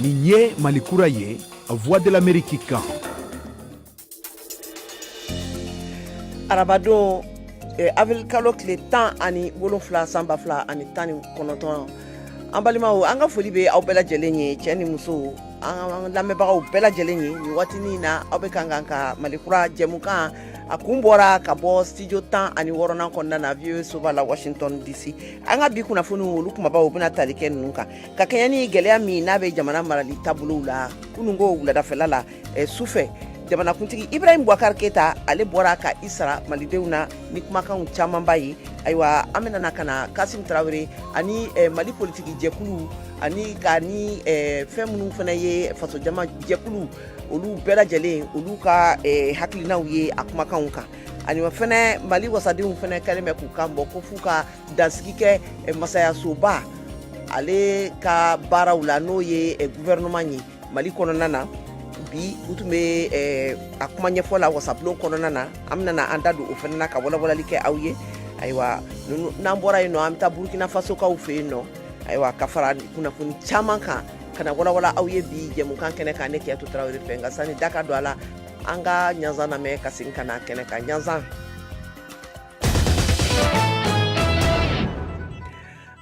Nin ye malikura ye la voix de l'amérique kan arabadon eh, avril kalo tile tan ani wolonfila san ba fila ani tan ni kɔnɔntɔn an balimaw an ka foli bɛ aw bɛɛ lajɛlen ye cɛ ni muso an lamɛnbagaw bɛɛ lajɛlen ye nin waatinin na aw bɛ kan k'an ka malikura jɛmukan a kun bɔra ka bɔ studio tan ani wɔɔrɔnan kɔnɔna na voa soba la washington dc an ka bi kunnafoniw olu kunbabaw bɛna tali kɛ ninnu kan ka kɛɲɛ ni gɛlɛya min n'a bɛ jamana marali taabolow la kununko wuladafɛla la eh, su fɛ jamanakuntigi ibrahim bubakar keyita ale bɔra ka i sara malidenw na ni kumakanw camanba ye ayiwa an bɛna na ka na kasim tarawele ani eh, mali politiki jɛkulu ani ka ni eh, fɛn minnu fana ye fasojama jɛkulu olu bɛɛ lajɛlen olu ka eh, hakilinaw ye a kumakanw kan ani fana mali wasadenw fana kɛlen bɛ k'u kan bɔ ko f'u ka dansigi kɛ eh, masayasoba ale ka baaraw la n'o ye eh, gouvernement ye mali kɔnɔna na bi u tun bɛ eh, a kuma ɲɛfɔ la wasabulon kɔnɔna na an bɛna an da don o fana na ka walawalali kɛ aw ye ayiwa n'an bɔra yen nɔ an bɛ taa burukina fasokaw fɛ yen nɔ ayiwa ka fara kunnafoni caman kan ka na walawala aw ye bi jɛmukan kɛnɛ kan ne kajatu tarawele fɛ nka sani da ka don a la an ka ɲanzan lamɛn ka segin ka na kɛnɛ kan ɲanzan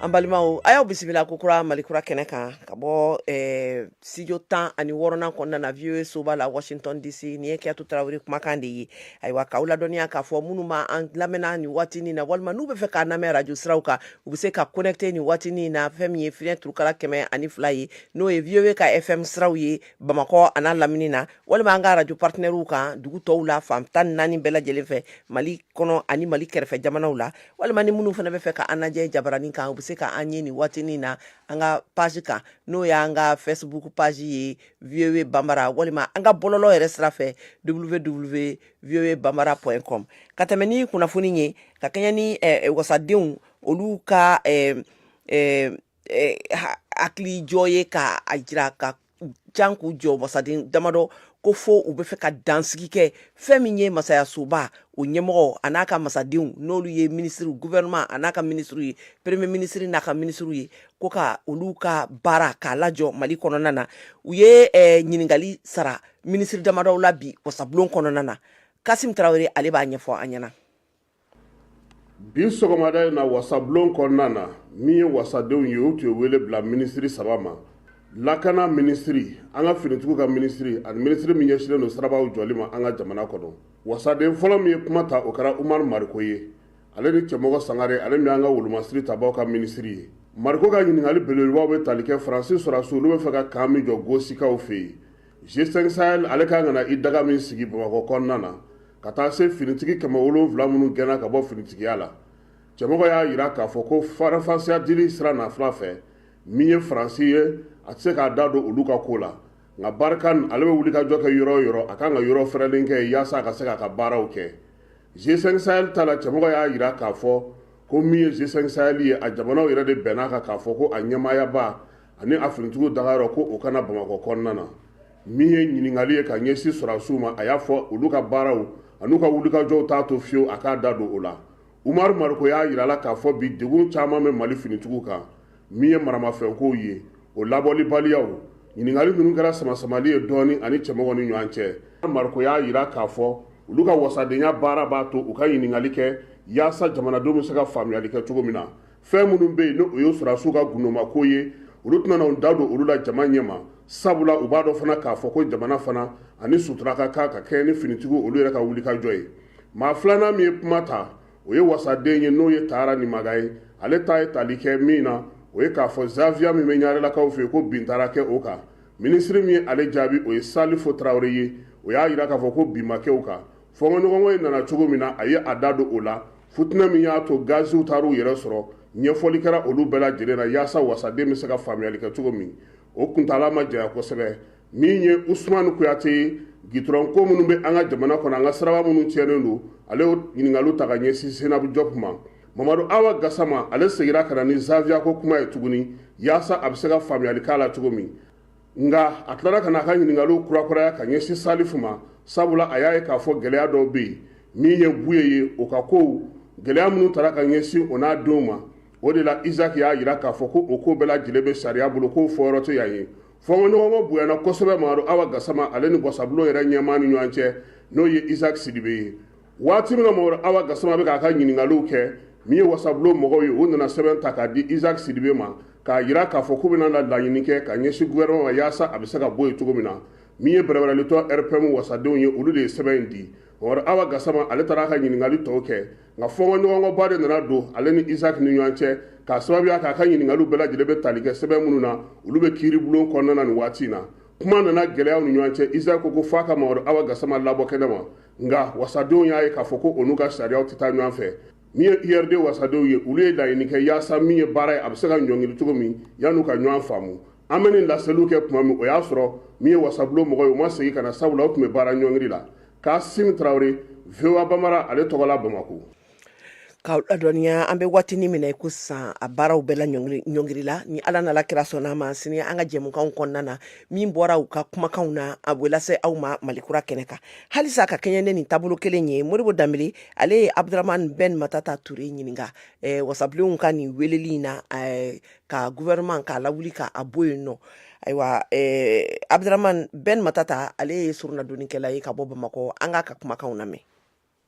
an balimaw a y'aw bisimila kokura malikura kɛnɛ kan ka bɔ eh, studio tan ani wɔɔrɔnan kɔnɔna na voa soba la washington dc nin ye kajatu tarawele kumakan de ye ayiwa k'aw ladɔnniya k'a fɔ minnu bɛ an lamɛn na nin waatinin na walima n'u bɛ fɛ k'an lamɛn radio siraw kan u bɛ se ka connecter nin waatinin na fɛn min ye fiɲɛ turukala kɛmɛ ani fila ye n'o ye voa ka fm siraw ye bamakɔ an'a lamini na walima an ka radio partenaires kan dugu tɔw la fan tan ni naani bɛɛ lajɛlen fɛ mali kɔnɔ ani mali kɛrɛfɛ jamanaw la walima ni minnu fana bɛ fɛ ka an lajɛ jabaranin kan u bɛ se ka an ye nin waatinin na an ka page kan n'o y'an ka facebook page ye voa bambara walima an ka bɔlɔlɔ yɛrɛ sira fɛ www voa bambara point com ka tɛmɛ ni kunnafoni ye ka kɛɲɛ ni eh, eh, wasadenw olu ka eh, eh, eh, ha- hakilijɔ ye ka a jira ka jan k'u jɔ wasaden damadɔ ko fo u bɛ fɛ ka dansigi kɛ fɛn min ye masayasoba o ɲɛmɔgɔ a n'a ka masadenw n'olu ye minisiriw gouvernement a n'a ka minisiriw ye premier minisiri n'a ka minisiriw ye ko ka olu ka baara k'a lajɔ Mali kɔnɔna na u ye eh, ɲininkali sara minisiri damadɔw la bi wasabulon kɔnɔna na Kasim Tarawele ale b'a ɲɛfɔ an ɲɛna bi sɔgɔmada in na wasabulon kɔnɔna na min ye wasadenw ye u tun ye wele bila minisiri saba ma lakana minisiri an ka finitigiw ka minisiri ani minisiri min ɲɛsilen don sirabaw jɔli ma an ka jamana kɔnɔ wasaden fɔlɔ min ye kuma ta o kɛra umaru mariko ye ale ni cɛmɔgɔ sangare ale min an ka wolomasiri tabaw ka minisiri ye mariko ka ɲininkali belebelebaw bɛ tali kɛ faransi sɔrɔdasiw olu bɛ fɛ ka kan min jɔ gosikaw fɛ yen g5 sahel ale kan ka na i daga min sigi bamakɔ kɔnɔna na ka taa se finitigi kɛmɛ wolonwula minnu gɛnna ka bɔ finitigiya la cɛmɔgɔ y'a jira k'a fɔ ko faranfasiya dili sira nafila fɛn min ye faransi ye a tɛ se k'a da don olu ka ko la nka barkhane ale bɛ wuli ka jɔ kɛ yɔrɔ o yɔrɔ a kan ka yɔrɔ fɛrɛlen kɛ yaasa a ka se k'a ka baaraw kɛ g5 sahel ta la cɛmɔgɔ y'a jira k'a fɔ ko min ye g5 sahel ye a jamanaw yɛrɛ de bɛnna a kan k'a fɔ ko a ɲɛmaayaba ani a finitigiw dagayɔrɔ ko o ka na bamakɔ kɔnɔna na min ye ɲininkali ye ka ɲɛsin sɔrɔdasiw ma a y'a fɔ olu ka baaraw an'u ka wulikajɔw t'a to fiyewu a k'a da don o la umaru mariko y'a jira la k'a fɔ bi degun caman bɛ mali finitigiw kan min ye maramafɛnkow ye o labɔlibaliyaw ɲininkali ninnu kɛra samasamali ye dɔɔnin a ni cɛmɔgɔ ni ɲɔgɔn cɛ mariko y'a jira k'a fɔ olu ka wasadenya baara b'a to u ka ɲininkali kɛ yaasa jamanadenw bɛ se ka faamuyali kɛ cogo min na fɛn minnu bɛ yen ni o ye sɔrɔdasiw ka gundomako ye olu tɛna u da don olu la jama ɲɛ ma sabula u b'a dɔn fana k'a fɔ ko jamana fana a ni sutura ka kan ka kɛɲɛ ni finitigiw olu yɛrɛ ka wulikajɔ ye maa filanan min ye kuma ta o ye wasaden ye n'o ye tahara nimaga ye ale ta ye tali kɛ min na o ye k'a fɔ zaviya min bɛ ɲarelakaw fɛ yen ko bin taara kɛ o kan minisiri min ye ale jaabi o ye salifu tarawele ye o y'a jira k'a fɔ ko bin ma kɛ o kan Fɔnkɔɲɔgɔnkɔ in nana cogo min na a ye a da don o la futinɛ min y'a to gaziw taara u yɛrɛ sɔrɔ ɲɛfɔli kɛra olu bɛɛ lajɛlen na yaasa wasaden bɛ se ka faamuyali kɛ cogo min o kuntaala ma janya kosɛbɛ min ye usumani kuyate ye gitɔrɔnko minnu bɛ an ka jamana kɔnɔ an ka siraba minnu tiɲɛnen don ale ɲininkali ta ka ɲɛsin senabu jɔpu ma mamadu awa gasama ale seginna ka na ni zaviya ko kuma ye tuguni yaasa a bɛ se ka faamuyali k'a la cogo min nka a tilara ka na a ka ɲininkaliw kurakuraya ka ɲɛsin salifu ma sabula a y'a ye k'a fɔ gɛlɛya dɔw bɛ yen min ye buye ye o ka kow gɛlɛya minnu tara ka ɲɛsin o n'a denw ma o de la isaki y'a jira k'a fɔ ko o ko bɛɛ lajɛlen bɛ sariya bolo k'o fɔyɔrɔ tɛ yan ye fɔnkɔɲɔgɔnkɔ bonyana kosɛbɛ mamadu awa gasama ale ni wasabulon yɛrɛ ɲɛmaa ni ɲɔgɔn cɛ n'o ye isaki sidibe ye waati min na mamadu awa gasama bɛ k'a ka ɲininkaliw kɛ min ye wasabulon mɔgɔw ye u nana sɛbɛn ta k'a di isaac sidibe ma k'a jira k'a fɔ k'u bɛna na laɲini kɛ ka ɲɛsin gouvernement ma yaasa a bɛ se ka bɔ yen cogo min na min ye bɛrɛbɛrɛlitɔn rpm wasadenw ye olu de ye sɛbɛn in di mamadu awa gasama ale taara a ka ɲininkali tɔw kɛ nka fɔnkɔɲɔgɔnkɔba de nana don ale ni isaac ni ɲɔgɔn cɛ k'a sababuya k'a ka ɲininkaliw bɛɛ lajɛlen bɛ tali kɛ sɛbɛn minnu na olu bɛ kiiribulon kɔnɔna na nin waati in na kuma nana gɛlɛya u ni ɲɔgɔn cɛ isaac ko ko f'a ka mamadu awa gasama labɔ kɛnɛ ma nka wasadenw y'a ye k'a fɔ ko o n'u ka sariyaw tɛ taa ɲɔgɔn fɛ min ye URD wasadenw ye olu ye laɲini kɛ yaasa min ye baara ye a bɛ se ka ɲɔngiri cogo min yan'u ka ɲɔgɔn faamu an bɛ nin laseliw kɛ tuma min o y'a sɔrɔ min ye wasabulon mɔgɔ ye u ma segin ka na sabula u tun bɛ baara ɲɔngiri la Kaasim Tarawele VOA Bambara ale tɔgɔ la Bamako K'aw ladɔnniya an bɛ waati min na i ko sisan a baaraw bɛɛ laɲɔngirila ni Ala n'a la kira sɔnna a ma sini an ka jɛmukan kɔnɔna na min bɔra u ka kumakanw na a bɛ lase aw ma Malikura kɛnɛ kan halisa ka kɛɲɛ ni nin taabolo kelen ye Modibo Dambele ye Abdramane Ben Matata Touré ɲininka wasabulon ka nin wele in na ka gouvernement k'a lawuli k'a bɔ yen nɔ ayiwa Abdramane Ben Matata ale ye soronadonkɛla ye ka bɔ Bamakɔ an k'a ka kumakan lamɛn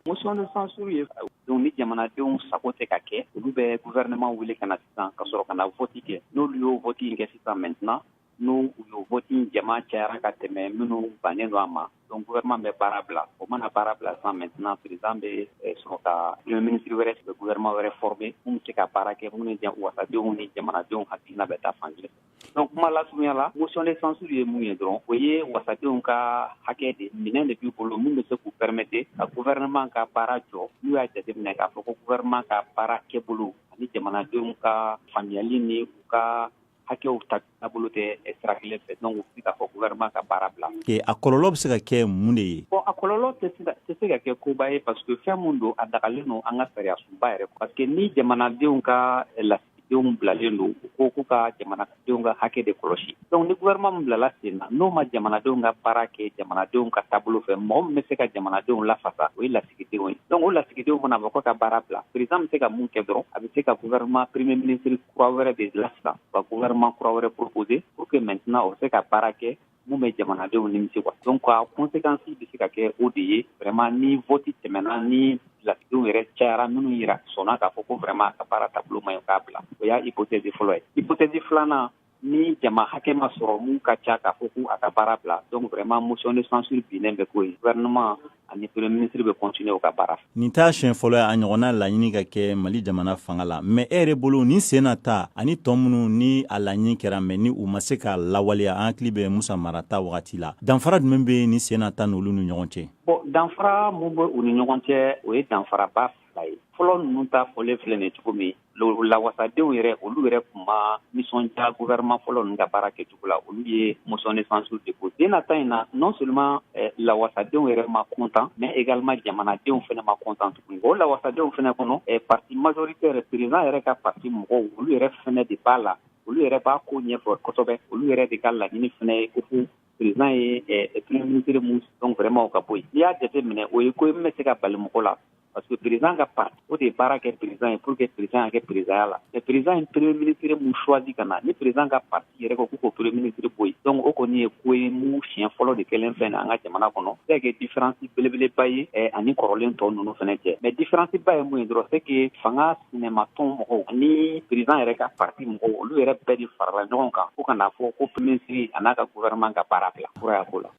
Motion de censure ye donc ni jamanadenw sago tɛ ka kɛ olu bɛ gouvernement wele ka na sisan ka sɔrɔ ka na vote kɛ n'olu y'o vote in kɛ sisan maintenant n'u y'o vote in jama cayara ka tɛmɛ minnu bannen don a ma donc gouvernement bɛ baara bila o mana baara bila sisan maintenant président bɛ eh, sɔrɔ ka premier ministre wɛrɛ sigi gouvernement wɛrɛ former minnu bɛ se ka baara kɛ minnu ni wasadenw ni jamanadenw hakilina bɛ taa fan kelen fɛ Donc kuma lasurunya la motion de censure ye mun ye dɔrɔn o ye wasadenw ka hakɛ de minɛn de b'i bolo min bɛ se k'u permettre ka gouvernement ka baara jɔ n'u y'a jateminɛ k'a fɔ ko gouvernement ka baara kɛbolo ani jamanadenw ka faamuyali ni u ka hakɛw ta taabolo tɛ sira kelen fɛ donc u bɛ se k'a fɔ gouvernement ka baara bila a kɔlɔlɔ bɛ se ka kɛ mun de ye bon a kɔlɔlɔ tɛ se ka kɛ koba ye parce que fɛn min don a dagalen don an ka sariyasunba yɛrɛ parce que ni jamanadenw ka la denw bilalen don u ko k'u ka jamanadenw ka hakɛ de kɔlɔsi donc ni gouvernement min bilala sen na n'o ma jamanadenw ka baara kɛ jamanadenw ka taabolo fɛ mɔgɔ min bɛ se ka jamanadenw lafasa o ye lasigidenw ye donc o lasigidenw fana b'a fɔ ko ka baara bila président bɛ se ka mun kɛ dɔrɔn a bɛ se ka gouvernement premier ministre kura wɛrɛ de la sisan ka gouvernement kura wɛrɛ proposer pour que maintenant o se ka baara kɛ min bɛ jamanadenw nimisi wa donc a conséquence bɛ se ka kɛ o de ye vraiment ni vote tɛmɛna ni lasigidenw yɛrɛ cayara minnu yɛrɛ sɔnna k'a fɔ ko vraiment a ka baara taabolo man ɲi k'a bila o y'a hypothèse fɔlɔ ye hypothèse filanan ni jama hakɛ ma sɔrɔ mun ka ca k'a fɔ ko a ka baara bila donc vraiment motion de censure binnen bɛ k'o ye gouvernement ani premier ministre bɛ continuer u ka baara fɛ. Nin t'a siɲɛ fɔlɔ ye a ɲɔgɔnna laɲini ka kɛ Mali jamana fanga la mais e yɛrɛ bolo nin sen na ta ani tɔ minnu ni a laɲini kɛra mais ni u ma se k'a lawaleya an hakili bɛ Musa Mara ta wagati la danfara jumɛn bɛ nin sen na ta n'olu ni ɲɔgɔn cɛ? Bon danfara mun bɛ u ni ɲɔgɔn cɛ o ye danfaraba fɔlɔ ninnu ta fɔlen filɛ nin cogo min lawasadenw yɛrɛ olu yɛrɛ tun ma nisɔndiya gouvernement fɔlɔ ninnu ka baara kɛcogo la olu ye motion de censure déposer de nin ta in na non seulement eh, lawasadenw yɛrɛ ma content mais également jamanadenw fana ma content tuguni o lawasadenw fana kɔnɔ eh, parti majoritaire président yɛrɛ ka parti mɔgɔw olu yɛrɛ fana de b'a la olu yɛrɛ b'a ko ɲɛfɔ kosɛbɛ olu yɛrɛ de ka laɲini fana ye ko président ye eh, premier ministre mun donc vraiment o ka bɔ yen n'i y'a jate minɛ o ye ko ye min bɛ se ka bali mɔgɔ la parce que président ka parti o de ye baara kɛ président ye pour que président ka kɛ présidenya la mais président ye premier ministre mun choisi ka na ni président ka parti yɛrɛ ko k'u k'o premier ministre bɔ yen donc o kɔni ye ko ye mun siɲɛ fɔlɔ de kɛlen fɛn na an ka jamana kɔnɔ se ka kɛ différence belebeleba ye eh, ani kɔrɔlen tɔw ninnu fana cɛ mais différence ba ye mun ye dɔrɔn c'est que fanga sinamatɔn mɔgɔw ni président yɛrɛ ka parti mɔgɔw olu yɛrɛ bɛɛ de farala ɲɔgɔn kan fo ka n'a fɔ ko premier ministre a n'a ka gouvernement ka baara bila fura y'a ko la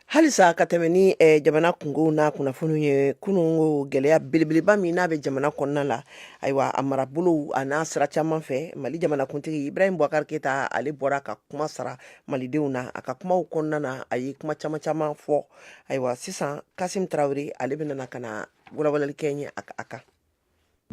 halisa ka tɛmɛ ni eh, jamana kungow n'a kunnafoniw ye kunun ko gɛlɛya belebeleba min n'a bɛ jamana kɔnɔna la ayiwa a marabolow a n'a sira caman fɛ mali jamanakuntigi ibrahim bubakari keyita ale bɔra ka kuma sara malidenw na a ka kumaw kɔnɔna na a ye kuma caman caman fɔ ayiwa sisan kasim tarawele ale bɛna ka na walawalali kɛ an ye a kan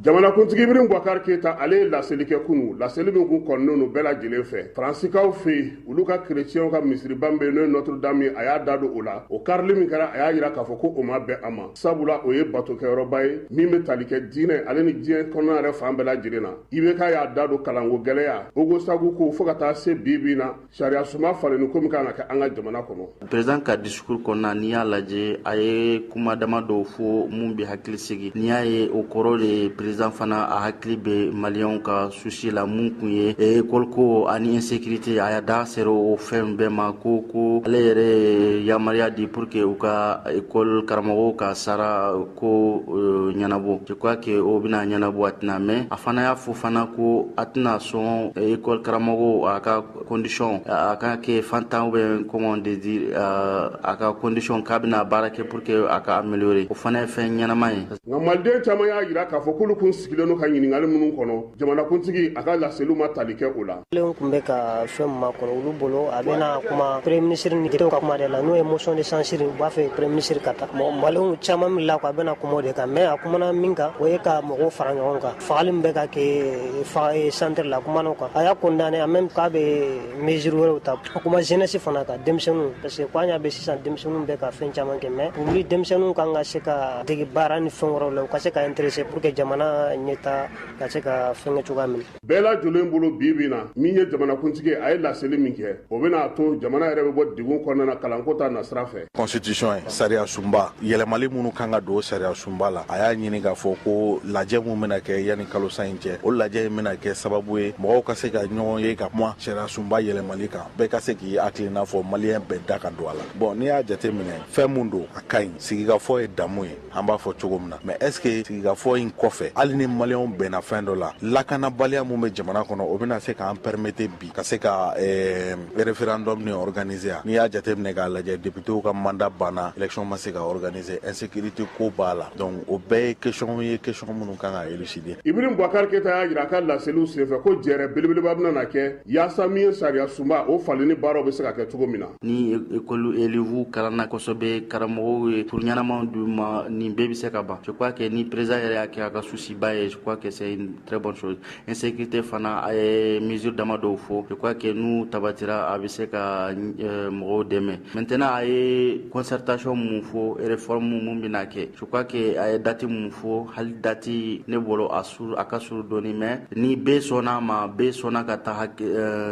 Jamanakuntigi ibrahim bubakari keyita ale ye laseli kɛ kunun laseli min kun kɔnɔnen don bɛɛ lajɛlen fɛ faransikaw fɛ yen olu ka kerecɛnw ka misiriba min bɛ yen n'o ye Notre Dame ye a y'a da don o la o karili min kɛra a y'a jira k'a fɔ ko o ma bɛn a ma sabula o ye batokɛyɔrɔba ye min bɛ tali kɛ diinɛ ale ni diɲɛ kɔnɔna yɛrɛ fan bɛɛ lajɛlen na IBK y'a da don kalanko gɛlɛya Ogosagu ko fo ka taa se bi bi in na sariya sunba falenni ko min kan ka kɛ an ka jamana kɔnɔ président ka discours kɔnɔna n'i y'a lajɛ a ye kuma dama dɔw fɔ mun be hakili sigi n'i y'a ye o kɔrɔ de ye président fana a hakili be maliyɛnw ka souci la mun kun ye école ko ani insécurité a y'a da sera o fɛn bɛɛ ma ko ko ale yɛrɛ yamariya di pour que u ka école karamɔgɔw ka sara ko ɲɛnabɔ je crois que o bɛna ɲɛnabɔ a tɛna mɛn a fana y'a fɔ fana ko a tɛna sɔn école karamɔgɔw a ka condition a ka kɛ fantan ou bien comment de dire a ka condition k'a bɛna baara kɛ pour que a ka améliorer o fana ye fɛn ɲɛnama ye nka maliden caman y'a jira k'a fɔ k'olu tun sigilen don ka ɲininkali minnu kɔnɔ jamanakuntigi a ka laseliw ma tali kɛ o la maliyɛnw tun bɛ ka fɛn min makɔnɔ olu bolo a bɛna kuma premier ministre ni ka kuma de la n'o ye motion de censure u b'a fɛ premier ministre ka taa mɔgɔ maliyɛnw caman min la ko a bɛna kuma o de kan mais a kumana min kan o ye ka mɔgɔw fara ɲɔgɔn kan fagali min bɛ ka kɛ fa eh, centre la a kumana o kan a y'a condamné en même k'a bɛ mesure wɛrɛw ta a kuma jeunesse fana kan denmisɛnninw parce que ko an y'a bɛ sisan denmisɛnninw bɛ ka fɛn caman kɛ mais olu denmisɛnninw kan ka se ka dege baara ni fɛn wɛrɛw la u ka se ka intéresser pour que jamana ɲɛtaa ka se ka fɛnkɛ cogoya min bɛɛ lajɛlen bolo bi bi na min ye jamanakuntigi a ye laseli min kɛ o bɛna a to jamana yɛrɛ bɛ bɔ degun kɔnɔna na kalanko ta nasira fɛ constitution ye sariya sunba yɛlɛmali minnu kan ka don sariya sunba la a y'a ɲini k'a fɔ ko lajɛ min bɛna kɛ yanni kalo san in cɛ o lajɛ in bɛna kɛ sababu ye mɔgɔw ka se ka ɲɔgɔn ye ka kuma sariya sunba yɛlɛmali kan bɛɛ ka se k'i hakilina fɔ maliyɛn bɛɛ da ka don a la bon n'i y'a jate minɛ fɛn min don a ka ɲi sigikafɔ ye damu ye an b'a fɔ cogo min na mais est-ce que sigikafɔ in kɔfɛ hali ni maliyɛnw bɛnna fɛn dɔ la lakanabaliya min bɛ jamana kɔnɔ o bɛna se k'an permettre bi ka se ka eh, référendum nin organiser n'i y'a jateminɛ k'a lajɛ deputew ka mandat banna élection ma se ka organiser insécurité ko b'a la donc o bɛɛ ye question ye question minnu kan ka élucider ibrahim bubakar keyita y'a jira a ka laseliw senfɛ ko jɛrɛ belebeleba bɛna na kɛ yaasa min ye sariya sunba o falenni baaraw bɛ se ka kɛ cogo min na ni école élèvew kalanna kosɛbɛ karamɔgɔw ye cours ɲɛnamaw d'u ma nin bɛɛ bɛ se ka ban je crois que ni président yɛrɛ y'a kɛ a ka souci ba ye je crois que c'est une très bonne chose insécurité fana a ye mesure dama dɔw fɔ je crois que n'u tabatira a bɛ se ka mɔgɔw dɛmɛ maintenant a ye concertation min fɔ réforme min bɛna kɛ je crois que a ye date min fɔ hali date ne bolo a a ka suru dɔɔni mais ni bɛɛ sɔnna a ma, bɛɛ sɔnna ka taa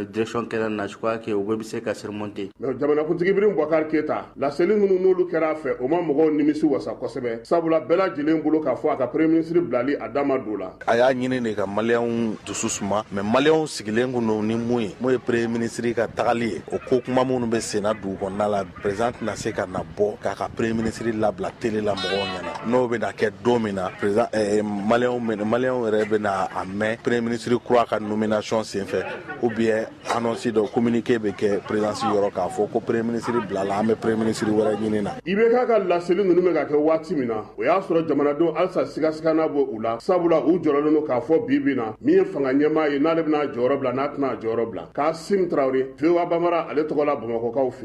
direction kelen na je crois que o bɛɛ bɛ se ka surmonter mais jamanakuntigi Ibrahim Boubacar Keita laseli minnu n'olu kɛra a fɛ, o ma mɔgɔw nimisi wasa kosɛbɛ, sabula bɛɛ lajɛlen bolo k'a fɔ a ka premier ministre bilali a da ma don o la. A y'a ɲini de ka maliyɛnw dusu suma, mais maliyɛnw sigilen tun don ni min ye, n'o ye premier ministre ka tagali ye, o ko kuma minnu bɛ senna dugu kɔnɔna la. perezan tɛna se ka na bɔ k'a ka premier minisiri labila tele la mɔgɔw ɲɛna n'o bɛna kɛ don min na perezan eh, maliyɛnw yɛrɛ bɛna a mɛn premier minisiri kura ka nomination senfɛ ou bien annonce dɔ communiqué bɛ kɛ perezansi yɔrɔ k'a fɔ ko premier minisiri bilala an bɛ premier minisiri wɛrɛ ɲini na. IBK ka laseli ninnu bɛ ka kɛ waati min na o y'a sɔrɔ jamanadenw halisa sigasiga ma bɔ u la sabula u jɔrɔlen don k'a fɔ bi bi in na min ye fanga ɲɛmaa ye n'ale bɛn'a jɔyɔrɔ bila n'a tɛn'a jɔyɔrɔ bila kasim tarawele voa bambara ale tɔgɔ la bamakɔkaw fɛ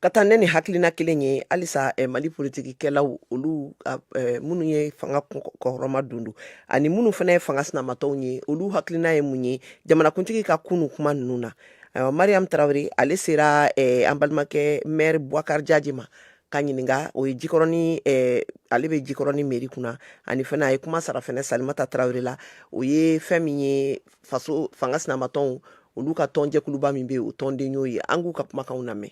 ka taa ɲɛ ni hakilina kelen ye halisa eh, mali politikikɛlaw olu eh, minnu ye fanga kɔrɔmadondon ani minnu fana ye fanga sinamatɔnw ye olu hakilina ye mun ye jamanakuntigi ka kunu kuma ninnu na ayiwa mariam tarawele ale sera eh, an balimakɛ maire buakar jaji ma k'a ɲininka o ye jikɔrɔni eh, ale bɛ jikɔrɔni meri kunna ani fana a ye kuma sara fana salimata tarawele la o ye fɛn min ye faso fanga sinamatɔnw olu ka tɔnjɛkuluba min bɛ o tɔnden y'o ye an k'u ka kumakanw lamɛn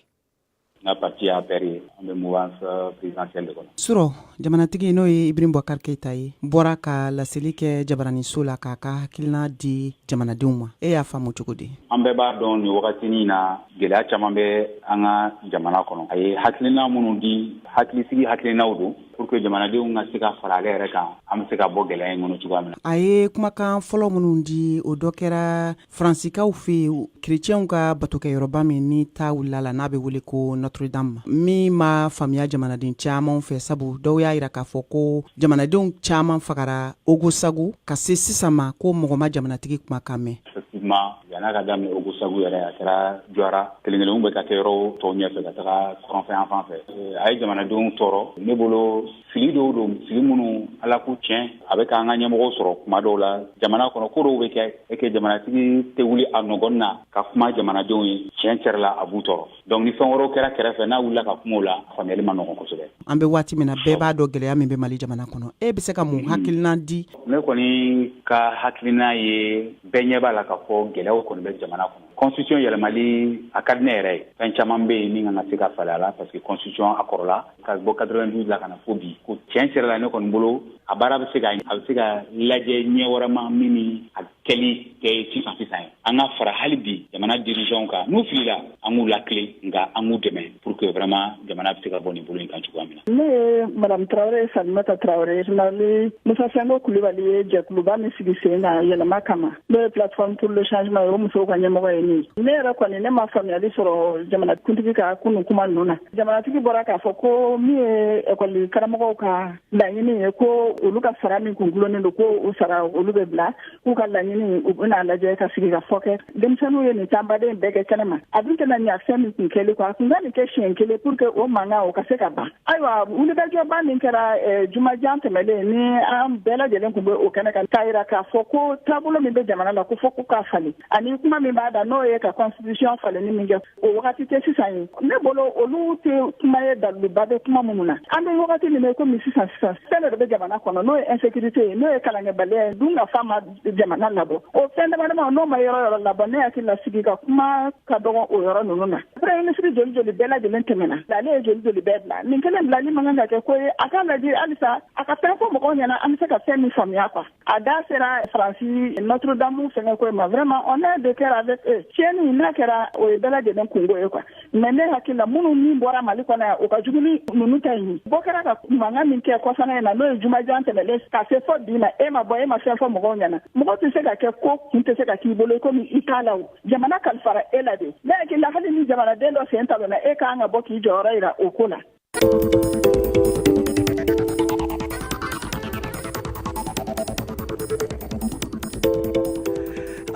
n ka pati ye APR ye an bɛ mouvance euh, présidentielle de kɔnɔ surɔ jamanatigi n'o ye ibrahim bubakar keyita ye bɔra ka laseli kɛ jabaraninso la k'a ka hakilina di jamanadenw ma e y'a faamu cogo di an bɛɛ b'a dɔn nin wagati nin na gwɛlɛya caman bɛ an ka jamana kɔnɔ a ye hakilina minnu di hakilisigi hakilinaw don pour que jamanadenw ka se ka fara ale yɛrɛ kan an bɛ se ka bɔ gɛlɛya in kɔnɔ cogoya min na. A ye kumakan fɔlɔ minnu di o dɔ kɛra Faransikaw fɛ yen kerecɛnw ka batokɛyɔrɔba min ni ta wulila a la n'a bɛ wele ko Notre Dame min ma faamuya jamanaden caman fɛ sabu dɔw y'a jira k'a fɔ ko jamanadenw caman fagara Ogosagu ka se sisan ma ko mɔgɔ ma jamanatigi kumakan mɛn. effectivement yan'a ka daminɛ ogosagu yɛrɛ a kɛra jɔra kelen kelenw bɛ ka kɛ yɔrɔ tɔw ɲɛfɛ ka taga kɔrɔnfɛ yan fan fɛ a ye jamanadenw tɔɔrɔ ne bolo fili dɔw don fili minnu ala k'u tiɲɛ a bɛ k'an ka ɲɛmɔgɔw sɔrɔ kuma dɔw la jamana kɔnɔ ko dɔw bɛ kɛ e kɛ jamanatigi tɛ wuli a nɔgɔn na ka kuma jamanadenw ye tiɲɛ yɛrɛ la a b'u tɔɔrɔ donc ni fɛn wɛrɛw kɛra kɛrɛfɛ n'a wulila ka kuma o la faamuyali ma nɔgɔ kosɛbɛ an bɛ waati min na bɛɛ b'a dɔn gɛlɛya min bɛ mali jamana kɔnɔ e bɛ se ka mun hakilina di ne kɔni ka hakilina ye bɛɛ ɲɛ b'a la k'a fɔ gɛlɛyaw kɔni bɛ jamana kɔnɔ constitution yɛlɛmali a ka di ne yɛrɛ ye fɛn caman bɛ yen min kan ka se ka falen a la parce que constitution a kɔrɔla ka bɔ quatre vingt douze la ka na fo bi ko tiɲɛ yɛrɛ la ne kɔni bolo a baara bɛ se a bɛ se ka lajɛ ɲɛ wɛrɛ ma min kɛli kɛ sisan sisan ye an ka fara hali bi jamana dirigeanw kan n'u filila an k'u latilen nka an k'u dɛmɛ pour que vraiment jamana bɛ se ka bɔ nin bolo in kan cogoya min na ne ye madame tarawele salimata tarawele général musa sinko kulubali ye jɛkuluba min sigi sen kan yɛlɛma kama n'o ye plateforme pour le changement ye o musow ka ɲɛmɔgɔ ye ne ne yɛrɛ kɔni ne ma faamuyali sɔrɔ jamanakuntigi ka kunun kuma ninnu na jamanatigi bɔra k'a fɔ ko min ye ekɔli karamɔgɔw ka laɲini ye ko olu ka sara min kun dulonnen don ko u sara olu bɛ bila k'u ka laɲini u bɛna lajɛ ka sigikafɔ kɛ denmisɛnninw ye nin tanbaden bɛɛ kɛ kɛnɛma a dun tɛna ɲa fɛn min kun kɛli kɔ a kun ka nin kɛ siɲɛ kelen pour que o mankan o ka se ka ban ayiwa wulikajɔba min kɛra eh, jumajan tɛmɛlen ni an bɛɛ lajɛlen kun bɛ o kɛnɛ kan k'a yira k'a fɔ ko taabolo min bɛ jamana la ko fɔ ko k'a falen ani kuma min b'a da n'o ye ka constitution falenni min kɛ o wagati tɛ sisan ye ne bolo olu tɛ kuma ye daliluba bɛ kuma minnu na an bɛ wagati min na komi sisan sisan fɛn dɔ de bɛ jamana kɔnɔ n'o ye insécurité ye n'o ye kalankɛbaliya ye dunkafa ma jamana labɔ o fɛn damadama n'o ma yɔrɔ yɔrɔ labɔ ne hakili la sigi ka kuma ka dɔgɔ o yɔrɔ ninnu na premier ministre joli joli bɛɛ lajɛlen tɛmɛna ale ye joli joli bɛɛ bila nin kelen bilali man kan ka kɛ ko ye a k'a lajɛ halisa a ka fɛn fɔ mɔgɔw ɲɛna an bɛ se ka fɛn min faamuya quoi a da sera faransi notre dame fɛnkɛ ko ma vraiment on est de cœur avec eux tiɲɛni n'a kɛra o ye bɛɛ lajɛlen kunko ye quoi mais ne hakili la minnu min bɔra mali kɔnɔ yan o ka jugu ni ninnu ta ye bɔ kɛra ka mankan min kɛ kɔsana in na n'o ye jumajan tɛmɛlen ka se fo bi ma e ma bɔ e ma fɛn fɔ mɔgɔw ɲɛna mɔgɔ tɛ se ka kɛ ko kun tɛ se ka k'i bolo komi i t'a la o jamana kalifara e la de ne hakili la hali ni jamanaden dɔ sen talonna e kan ka bɔ k'i jɔyɔrɔ yira o ko la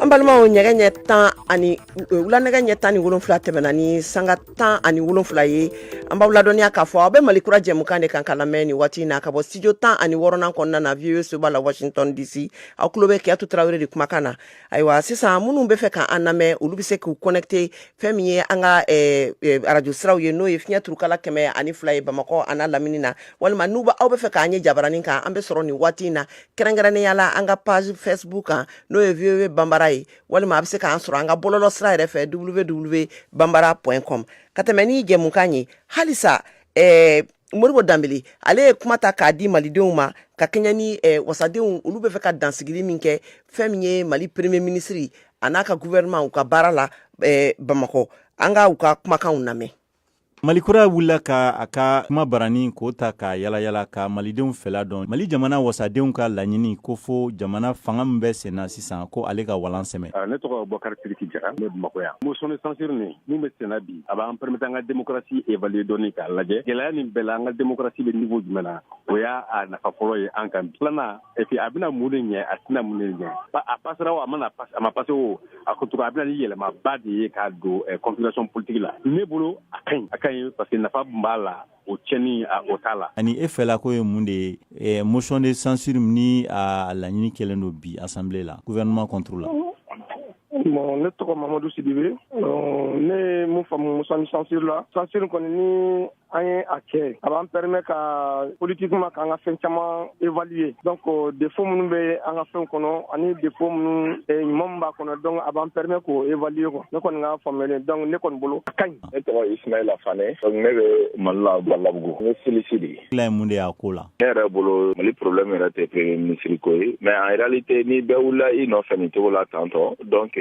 an balimaw nɛgɛ ɲɛ tan ani e, wula nɛgɛ ɲɛ tan ni wolonfila tɛmɛna ni sanga tan ani wolonfila ye an b'aw ladɔnniya k'a fɔ aw bɛ mali kura jɛmukan de kan k'a lamɛn nin waati na ka bɔ studio tan ani wɔrɔnan kɔnɔna na voa soba la washington dc aw tulo bɛ kiyatu tarawele de kumakan na ayiwa sisan minnu bɛ fɛ ka an lamɛn olu bɛ se k'u connecter fɛn min ye an ka eh, eh, arajo siraw ye n'o ye fiɲɛ turukala kɛmɛ ani fila ye bamakɔ a n'a lamini na walima n'u aw bɛ fɛ k'an ye jabaranin kan an bɛ sɔrɔ nin waati in na kɛrɛnkɛrɛnnenya la an ka page facebook kan n'o ye voa banbara ye walima a bɛ se k'an sɔrɔ an ka bɔlɔlɔ sira yɛrɛ fɛ voa banbara point com ka tɛmɛ ni jɛmukan ye halisa eh, modibo danbele ale ye kuma ta k'a di malidenw ma ka kɛɲɛ ni eh, wasadenw olu bɛ fɛ ka dansigili min kɛ fɛn min ye mali premier minisiri a n'a ka guvɛrɛnman u ka baara la eh, bamakɔ an ka u ka kumakanw lamɛn mali kura wulila ka a ka kumabaranin k'o ta k'a yaalayaala ka malidenw fɛla dɔn mali jamana wasadenw ka laɲini ko fo jamana fanga min bɛ senna sisan ko ale ka walan sɛmɛ ne tɔgɔ bɔkari sidiki jara ne bamakɔ yan motion de censure nin min bɛ senna bi a b'an permettre an ka démocratie évaluer dɔɔni k'a lajɛ gɛlɛya nin bɛɛ la an ka démocratie bɛ niveau jumɛn na o y'a nafa fɔlɔ ye an kan bi filanan et puis a bɛna mun de ɲɛ a tɛna mun de ɲɛ a passera o a mana a ma passe o a ko cogo a bɛ na ni yɛlɛmaba de ye k'a don configuration politique la ne bolo a ka ɲi a ka ɲi parce que nafa b'a la o cɛnni a o t'a la. Ani e fɛla ko ye mun de ye ɛɛ motion de censure ni a laɲini kɛlen don bi assemblée la gouvernement contre la. Bon ne tɔgɔ Mamadu Sidibe ne ye min faamu motion de censure la censure kɔni ni an ye a kɛ a b'an permet ka politiquement k'an ka fɛn caman évaluer donc défaut minnu bɛ an ka fɛnw kɔnɔ ani défaut minnu ɲuman min b'a kɔnɔ donc a b'an permet k'o évaluer quoi ne kɔni ka faamuyali donc ne kɔni bolo a ka ɲi. ne tɔgɔ ismaila fane donc ne bɛ mali la balabugu ne silisi de ye ye mun de y'a ko la ne yɛrɛ bolo mali problème yɛrɛ tɛ premier ministre ko ye mais en réalité ni bɛɛ wulila i nɔfɛ nin cogo la tantôt donc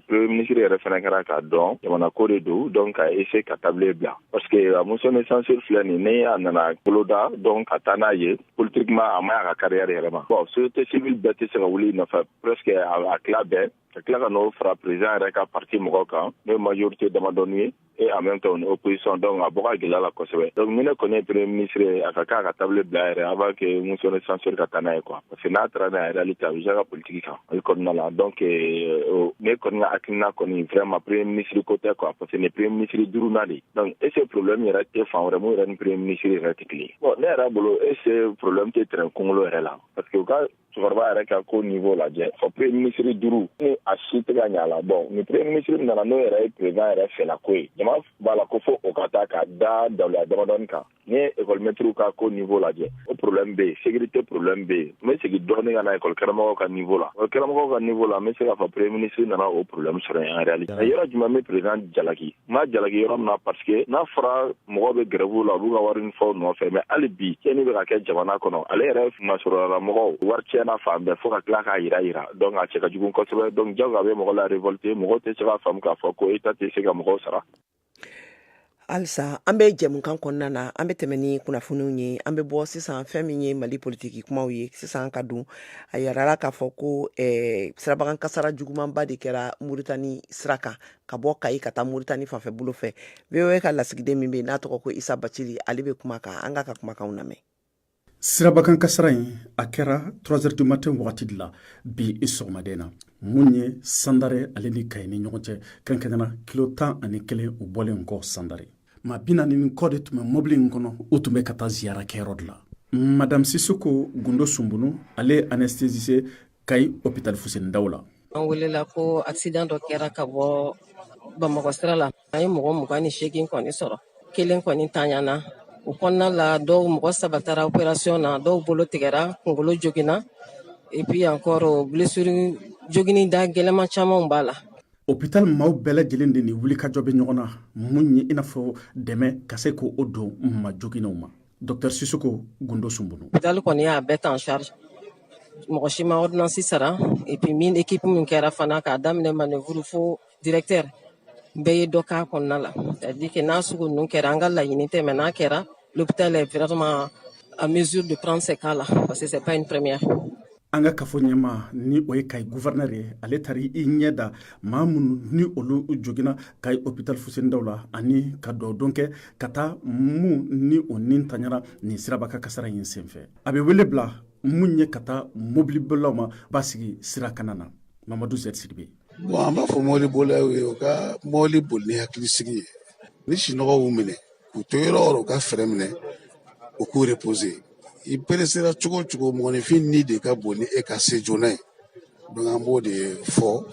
premier ministre yɛrɛ fana ka kan k'a dɔn jamana ko de don donc ka essayer ka table bila parce que a motion de censure filɛ nin ni a nana boloda donc ka taa n'a ye politiquement a man ɲi a ka carrière yɛrɛ ma bon société civile bɛɛ tɛ se ka wuli i nɔfɛ presque a tila bɛɛ ka tila ka n'o fara président yɛrɛ ka parti mɔgɔw kan n'o ye majorité damadɔni ye et en même temps u ni opposition donc a bɔ ka gɛlɛn a la kosɛbɛ donc ni ne kɔni ye premier ministre ye a ka kan a ka table bila yɛrɛ avant que motion de censure ka taa n'a ye quoi parce que n'a taara n'a ye réalité a bɛ jouer a ka politiki kan ale kɔnɔna la donc euh, ne kɔni ka hakilina kɔni vraiment premier ministre ko tɛ quoi parce que nin premier ministre duurunan de don est ce que problème yɛrɛ tɛ fan wɛrɛ min yɛrɛ ni premier ministre yɛrɛ tɛ kelen bon ne yɛrɛ bolo est ce que problème tɛ train kunkolo yɛrɛ la parce que u ka cɛkɔrɔba yɛrɛ ka ko nivo lajɛ fo premier minisiri duuru ni a si tɛ ka ɲa la bon ni premier minisiri min nana n'o yɛrɛ ye président yɛrɛ fɛla ko ye jama b'a la ko fo o ka taa ka da daliluya damadɔni kan n'i ye ekɔlimɛtiriw ka ko nivo lajɛ o problème bɛ yen sécurité problème bɛ yen n bɛ segin dɔɔni ka na ekɔli karamɔgɔw ka nivo la ekɔli karamɔgɔw ka nivo la n bɛ se k'a fɔ premier minisiri nana o problème sɔrɔ en réalité yɔrɔ jumɛn bɛ président jalaki n'a jalaki yɔrɔ min na parce que n'a fɔra mɔgɔw bɛ grève la u b'u ka wari ni fɛnw nɔfɛ mais hali bi cɛni bɛ ka kɛ jamana kɔnɔ ale yɛrɛ masurunna mɔgɔw wari tiɲɛna fan bɛɛ fo ka tila k'a yira yira donc a cɛ ka jugu kosɛbɛ donc jago a bɛ mɔgɔ la révolter mɔgɔw tɛ se ka faamu k'a fɔ ko état tɛ se ka mɔgɔw sara halisa an bɛ jɛmukan kɔnɔna na an bɛ tɛmɛ ni kunnafoniw ye an bɛ bɔ sisan fɛn min ye mali politiki kumaw ye sisan ka don a yirala k'a fɔ ko eh, sirabakan kasara jugumanba de kɛra muritani sira kan ka bɔ kayi ka taa muritani fanfɛ bolo fɛ voa ka lasigiden min bɛ n'a tɔgɔ ko isa bacili ale bɛ kuma kan an k'a ka kumakan lamɛn sirabakan kasara in a kɛra trois heures du matin wagati de la bi i sɔgɔmada in na mun ye sandare ale ni kayi ni ɲɔgɔn cɛ kɛrɛnkɛrɛnna kilo tan ani kelen u bɔlen kɔ sandare maa bi naani ni kɔ de tun bɛ mɔbili in kɔnɔ u tun bɛ ka taa ziyara kɛyɔrɔ de la madame sisoko gundo sunbunu ale anesthésiste kayi opitali fuseni daw la an welela ko accident dɔ kɛra ka bɔ bamakɔ sira la an ye mɔgɔ mugan ni seegin kɔni sɔrɔ kelen kɔni tanyana o kɔnɔna la dɔw mɔgɔ saba taara operasiyɔn na dɔw bolo tigɛra kungolo joginna et puis encore blessure jogini da gɛlɛman camanw b'a la hopital maaw bɛɛ lajɛlen de ni wulikajɔ bɛ ɲɔgɔn na mun ye i n'a fɔ dɛmɛ ka se k'o don ma joginenw ma Dɔta siso gdo sun bolo dalen kɔni y'a bɛɛ tan sari mɔgɔ si ma odsi sara ep min de kkiip min kɛra fana k'a daminɛ man nin furufo dtɛ bɛɛ ye dɔ k kan kɔnɔna la di kɛ n'a sugu ninnu kɛra an ka laɲini tɛ n'a kɛra u bɛ taa la fɛrɛɛrɛma a minz deranse k'a la parce quep in ppmeme an ka kafo ɲɛmaa ni o ye kayi guvɛrnɛr ye ale taara i ɲɛ da maa minnu ni olu joginna kayi hopital fuseni daw la ani ka duwa don kɛ ka taa mun ni o ni tanyara nin sirabakan kasara in senfɛ a bɛ wele bila mun ye ka taa mobilibolaw ma basigi sira kana na mamadu z sidibe bon an b'a fɔ mɔbili bolaw ye u ka mɔbili boli ni hakilisigi ye ni sinɔgɔ y'u minɛ u to yɔrɔ o yɔrɔ u ka frein minɛ u k'u reposer i peresera cogo o cogo mɔgɔninfin ni de ka bon ni e ka se joona ye donc an b'o de fɔ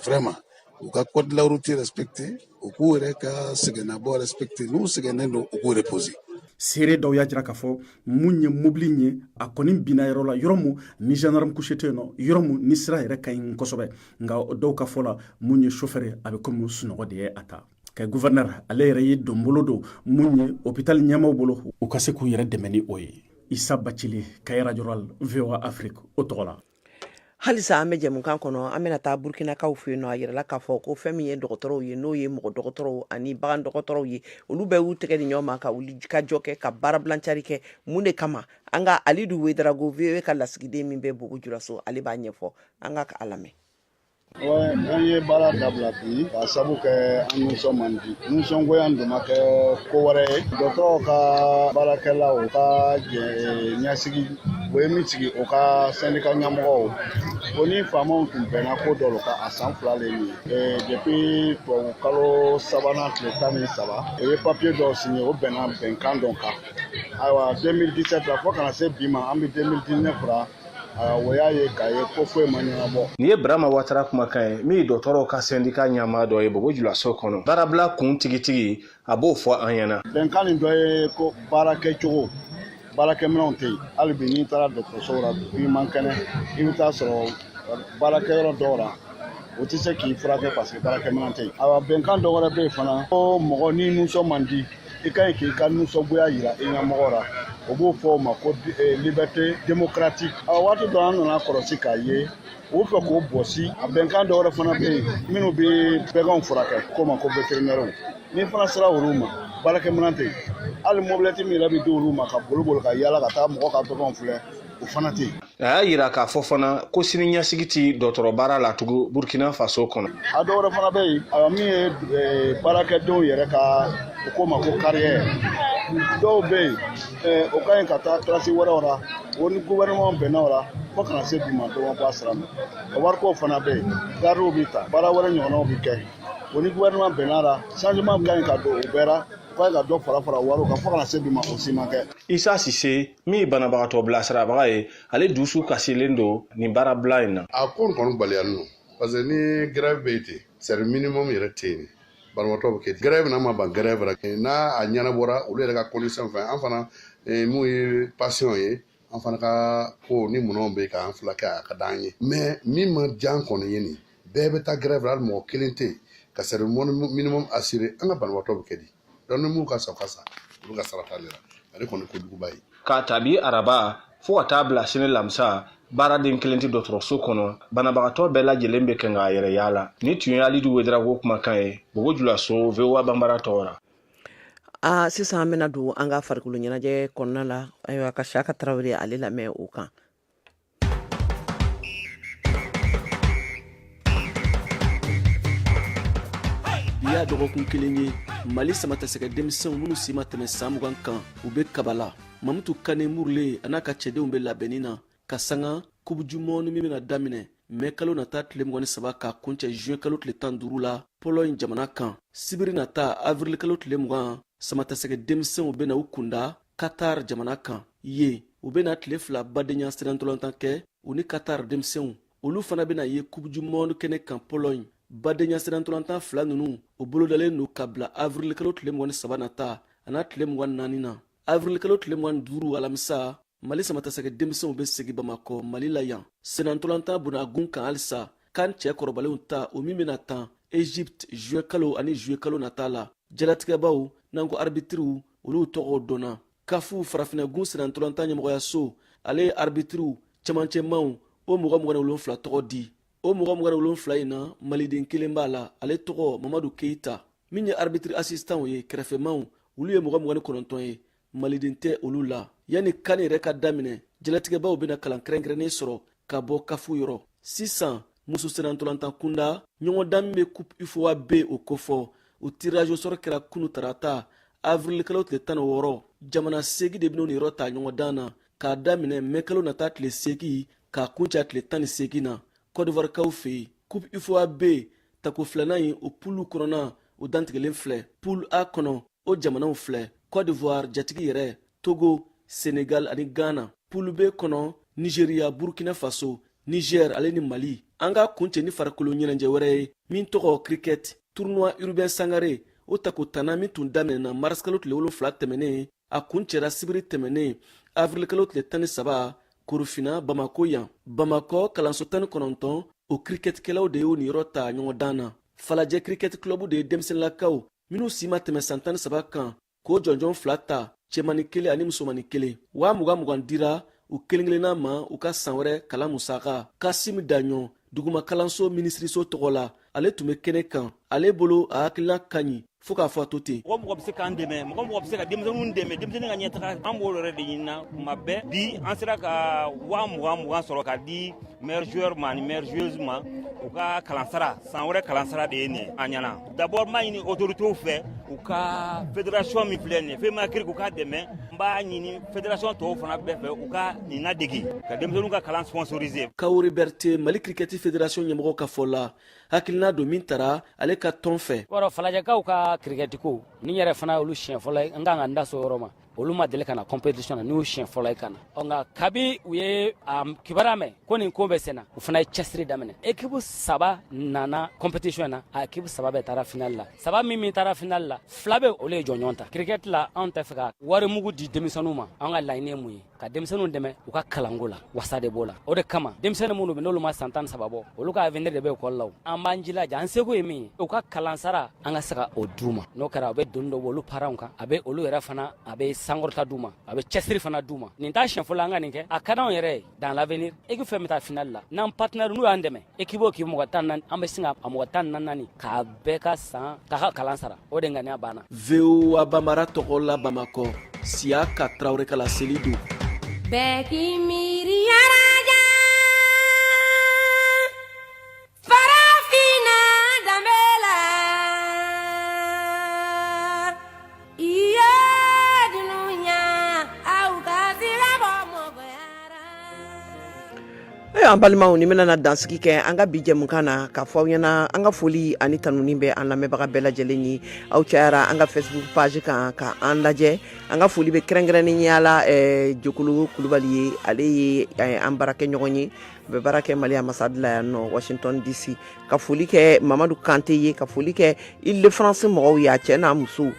vraiment u ka code de la route respecter u k'u yɛrɛ ka sɛgɛnnabɔ respecter n'u sɛgɛnnen don u k'u reposer seere dɔw y'a jira k'a fɔ mun ye mobili in ye a kɔni binna yɔrɔ la yɔrɔ mun ni gendarme couché tɛ yen nɔ yɔrɔ mun ni sira yɛrɛ ka ɲi kosɛbɛ nka dɔw ka fɔ la mun ye chauffeur a bɛ komi sunɔgɔ de ye a ta kayi guvɛrnɛr ale yɛrɛ ye donbolo don mun ye hopitali ɲɛmaaw bolo u ka se k'u yɛrɛ dɛmɛ ni o ye isa bacili kayi radio voa afrique o tɔgɔ la halisa an bɛ jɛmukan kɔnɔ an bɛna taa burukinakaw fɛ yen nɔ a yirala k'a fɔ ko fɛn min ye dɔgɔtɔrɔw ye n'o ye mɔgɔ dɔgɔtɔrɔw ani bagan dɔgɔtɔrɔw ye olu bɛɛ y'u tɛgɛ di ɲɔgɔn ma ka wuli ka jɔ kɛ ka baarabilancari kɛ mun de kama an ka alidu wedarago voa ka lasigiden min bɛ bobo julaso ale b'a ɲɛfɔ an ka ka a lamɛn an ye baara dabila bi ka sabu kɛ an nisɔn man di nisɔngoya dun ma kɛ ko wɛrɛ ye dɔgɔtɔrɔw ka baarakɛlaw ka ɲɛsigi o ye min sigi o ka sɛndika ɲɛmɔgɔw o ni faamaw tun bɛnna ko dɔ la ka a san fila le min depuis tubabu kalo sabanan tile tan ni saba o ye papiye dɔw signé o bɛnna bɛnkan dɔ kan ayiwa 2017 la fo kana se bi ma an bɛ 2019 la o y'a ye k'a ye ko foyi ma ɲɛnabɔ nin ye burama watara kumakan ye min ye dɔgɔtɔrɔw ka sɛndika ɲɛmaa dɔ ye bobo julaso kɔnɔ baarabila kun tigitigi a b'o fɔ an ɲɛna bɛnkan nin dɔ ye ko baara kɛcogo baarakɛminɛnw tɛ yen hali bi n'i taara dɔgɔtɔrɔsow la i man kɛnɛ i bɛ taa sɔrɔ baarakɛyɔrɔ dɔw la o tɛ se k'i furakɛ parce que baarakɛminɛn tɛ yen awa bɛnkan dɔ wɛrɛ bɛ yen fana ko mɔgɔ n'i nisɔn man di i ka ɲi k'i ka nisɔngoya yira i ɲɛmɔgɔ ra o b'o fɔ o ma ko eh, liberté démocratique a waati dɔ an nana kɔlɔsi k'a ye u fɛ k'o bɔsi a bɛnkan dɔ wɛrɛ fana bɛ yen minnu bɛ baganw furakɛ k'o ma ko vétérinaire n'i fana sera olu ma baarakɛminɛn tɛ yen hali mobilɛti min yɛrɛ bɛ di olu ma ka boli boli ka yaala ka taa mɔgɔ ka baganw filɛ o fana tɛ yen a y'a yira k'a fɔ fana ko sini ɲɛsigi tɛ dɔgɔtɔrɔbaara la tugun burkina faso kɔnɔ a dɔ wɛrɛ fana bɛ yen a min ye eh, baarakɛdenw yɛrɛ ka u k'o ma ko kariyɛ dɔw bɛ yen eh, o ka ɲi ka taa kilasi wɛrɛw la o ni gouvernement bɛnna o la fo kana se bi ma dɔ ma bɔ a sira ma o wariko fana bɛ yen garidiw bɛ ta baara wɛrɛ ɲɔgɔnnaw bɛ kɛ o ni gouvernement bɛnna la changement ka ɲi ka don o bɛɛ la fo ka dɔ fara fara wariw kan fo kana se bi ma o si ma kɛ isa sise min ye banabagatɔ bilasirabaga ye ale dusu kasilen don nin baarabila in na a ko n kɔni baliyani don parce que ni grève bɛ yen ten service minimum yɛrɛ tɛ yen banabagatɔ bɛ kɛ di grève an ma ban grève la n'a a ɲɛnabɔra olu yɛrɛ ka condition fɛ an fana eh, minnu ye patient ye an fana ka ko ni minɛnw bɛ yen k'an furakɛ a ka d'an ye mais min ma diya an kɔni ye ni bɛɛ bɛ taa grève la hali mɔgɔ kelen tɛ yen ka service minimum assurer an ka banabagatɔ bɛ kɛ di donc minnu ka sa ka sa olu ka sira t'ale la ale kɔni kojuguba ye k'a ta bi araba fo ka taa bila sini lamisa baaraden kelen tɛ dɔgɔtɔrɔso kɔnɔ banabagatɔ bɛɛ lajɛlen bɛ kan k'a yɛrɛ yaala nin tun ye alidu wedarago kumakan ye bobo julaso vowa banbara tɔgɔ la aa sisan an bɛna don an ka farikolo ɲɛnajɛ kɔnɔna la ayiwa ka siyaka tarawele ale lamɛn o kan y'a dɔgɔkun kelen ye mali samatasɛgɛ denmisɛnw minnu si ma tɛmɛ san mugan kan u be kabala mamutu kane murule an'a ka cɛdenw be labɛnni na ka sanga coupe du monde min bena daminɛ mɛ kalo nata tile mugan ni saba k'a kuncɛ juin kalo tile tan duru la pɔlɔɲi jamana kan sibiri nata avril kalo tile mugan samatasɛgɛ denmisɛnw bena u kunda katar jamana kan yen u bena tile fila badenya senantolantan kɛ u ni katar denmisɛnw olu fana bena ye coupe du monde kɛnɛ kan pɔlɔɲi badenya senantolantan fila nunu o bolodalen don ka bila avirilikalo tile mugan ni saba nata an'a tile mugan ni naani na avirilikalo tile mugan ni duuru alamisa mali samatasɛgɛ denmisɛnw be segi bamakɔ mali la yan senantolantan bonagun kan halisa kan cɛ kɔrɔbalenw ta o min bɛna tan egypte juin kalo ani juillet kalo nata la jalatigɛbaw n'an ko arbitriw olu tɔgɔw dɔnna kafu farafinagun senantolantan ɲɛmɔgɔyaso ale ye arbitriw cɛmancɛmanw o mɔgɔ mugan ni wolonfila tɔgɔ di o mɔgɔ mugan ni wolonfila in na maliden kelen b'a la ale tɔgɔ mamadu keyita min ye arbitri asistanw ye kɛrɛfɛmanw olu ye mɔgɔ mugan ni kɔnɔntɔn ye maliden tɛ olu la yanni kan yɛrɛ ka daminɛ jalatigɛbaw bɛna kalan kɛrɛnkɛrɛnnen sɔrɔ ka bɔ kafu yɔrɔ sisan muso senantolantan kunda ɲɔgɔndan min bɛ coupe ufoa b o kofɔ o tirage au sort kɛra kunu tarata avirilikalo tile tan ni wɔɔrɔ jamana segi de bɛn'o niyɔrɔ ta ɲɔgɔndan na k'a daminɛ mɛkalo nata tile segi k'a kuncɛ tile tan ni segi na kɔdivarikaw fɛ yen coupe ufoa b tako filanan in o pulu kɔnɔna o dantigɛlen filɛ pul a kɔnɔ o jamanaw filɛ cote d'ivoire jatigi yɛrɛ togo senegal ani ghana pulu be kɔnɔ nigeria burkina faso niger ale ni mali an k'a kuncɛ ni farikolo ɲɛnajɛ wɛrɛ ye min tɔgɔ cricket tournoi urbain sangare o tako tannan min tun daminɛna marisikalo tile wolonfila tɛmɛnen a kuncɛra sibiri tɛmɛnen avirilikalo tile tan ni saba korofina bamako yan bamakɔ kalanso tan ni kɔnɔntɔn o kirikɛtikɛlaw de y'o niyɔrɔ ta ɲɔgɔndan na falajɛ kirikɛti kilɔbu de ye denmisɛnninlakaw minnu si ma tɛmɛ san tan ni saba kan k'o jɔnjɔn fila ta cɛmani kelen ani musomani kelen waa mugan mugan dira u kelen kelenna ma u ka san wɛrɛ kalan musaka kasimi daɲɔn duguma kalanso minisiriso tɔgɔ la ale tun bɛ kɛnɛ kan ale bolo a hakilina ka ɲi fo k'a fɔ a to ten mɔgɔ mɔgɔ bɛ se k'an dɛmɛ mɔgɔ mɔgɔ bɛ se ka denmisɛnninw dɛmɛ denmisɛnnin ka ɲɛtaga an b'o yɛrɛ de ɲinina kuma bɛɛ bi an sera ka waa mugan mugan sɔrɔ ka di meilleur joueur ma ani meilleure joueuse ma u ka kalansara san wɛrɛ kalansara de ye nin an ɲɛna d'abord n b'a ɲini autoritew fɛ u ka federation min filɛ nin femacric u k'a dɛmɛ n b'a ɲini federation tɔw fana bɛɛ fɛ u ka nin ladegi ka denmisɛnninw ka kalan sponsorize kawori bɛrite mali kirikɛti federation ɲɛmɔgɔ ka fɔ la hakilina don min tara ale ka tɔn fɛ wɔrɔ falajɛkaw ka kirikɛtiko nin yɛrɛ fana olu siɲɛ fɔlɔ ye n kan ka n da s'o yɔrɔ ma olu ma deli ka na competition na n'u siɲɛ fɔlɔ ye ka na ɔ nka kabi u ye a kibaruya mɛn ko nin ko bɛ senna u fana ye cɛsiri daminɛ ekipu saba nana competition na a ekipu saba bɛɛ taara final la saba min min taara final la fila bɛ olu ye jɔnjɔn ta kirikɛti la anw tɛ fɛ ka wari mugu di denmisɛnninw ma an ka laɲini ye mun ye ka denmisɛnninw dɛmɛ u ka kalanko la wasa de b'o la o de kama denmisɛnni minnu bɛ n'olu ma san tan saba bɔ olu ka avenir de bɛ ekɔli la an b'an jilaja an seko ye min ye u ka kalansara an ka se ka o d'u ma n'o kɛra a bɛ doni dɔ bɔ olu paranw kan a bɛ olu yɛrɛ fana a bɛ sankɔrɔta d'u ma a bɛ cɛsiri fana d'u ma nin t'a siɲɛ fɔlɔ an ka nin kɛ a ka d'anw yɛrɛ ye dans l'avenir équipe fɛn bɛ taa finali la n'an partenaire n'u y'an dɛmɛ équipe o k'i mɔgɔ tan naani an bɛ se ka a mɔgɔ tan ni naani k'a bɛɛ ka san k'a ka kalan sara o de ŋaniya b'an na voa bambara tɔgɔ la bamakɔ siyaka tarawele kala seli don bɛɛ k'i miiri Farafinna danbe la, i yo dunuya, aw ka siga bɔ mɔgɔya la. Ayiwa an balimaw ni bɛna na dansigi kɛ an ka bi jɛmukan na ka fɔ aw ɲɛna an ka foli ani tanuni bɛ an lamɛnbaga bɛɛ lajɛlen ye aw cayara an ka Facebook page kan ka an lajɛ an ka foli bɛ kɛrɛnkɛrɛnnenya la Jokolo kulubali ye ale ye an baarakɛɲɔgɔn ye u bɛ baara kɛ mali ambassade la yan nɔ washington dc ka foli kɛ mamadu kante ye ka foli kɛ île-de-france mɔgɔw y'a cɛ n'a muso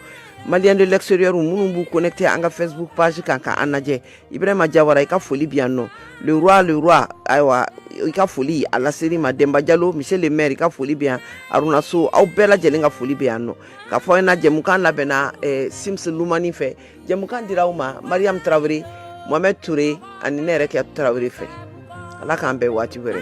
maliens de l'extérieur minnu b'u connecté an ka facebook page kan ka an lajɛ ibrahima jawara i ka foli bi yan nɔ le roi ayiwa i ka foli a laser'i ma denba jalo monsieur le maire i ka foli bɛ yan aruna so aw bɛɛ lajɛlen ka foli bɛ yan nɔ ka fɔ i ɲɛna jɛmukan labɛnna simisi lumani fɛ jɛmukan dira aw ma mariam tarawele mohamɛd ture ani ne yɛrɛ kɛ tarawele fɛ ala k'an bɛn waati wɛrɛ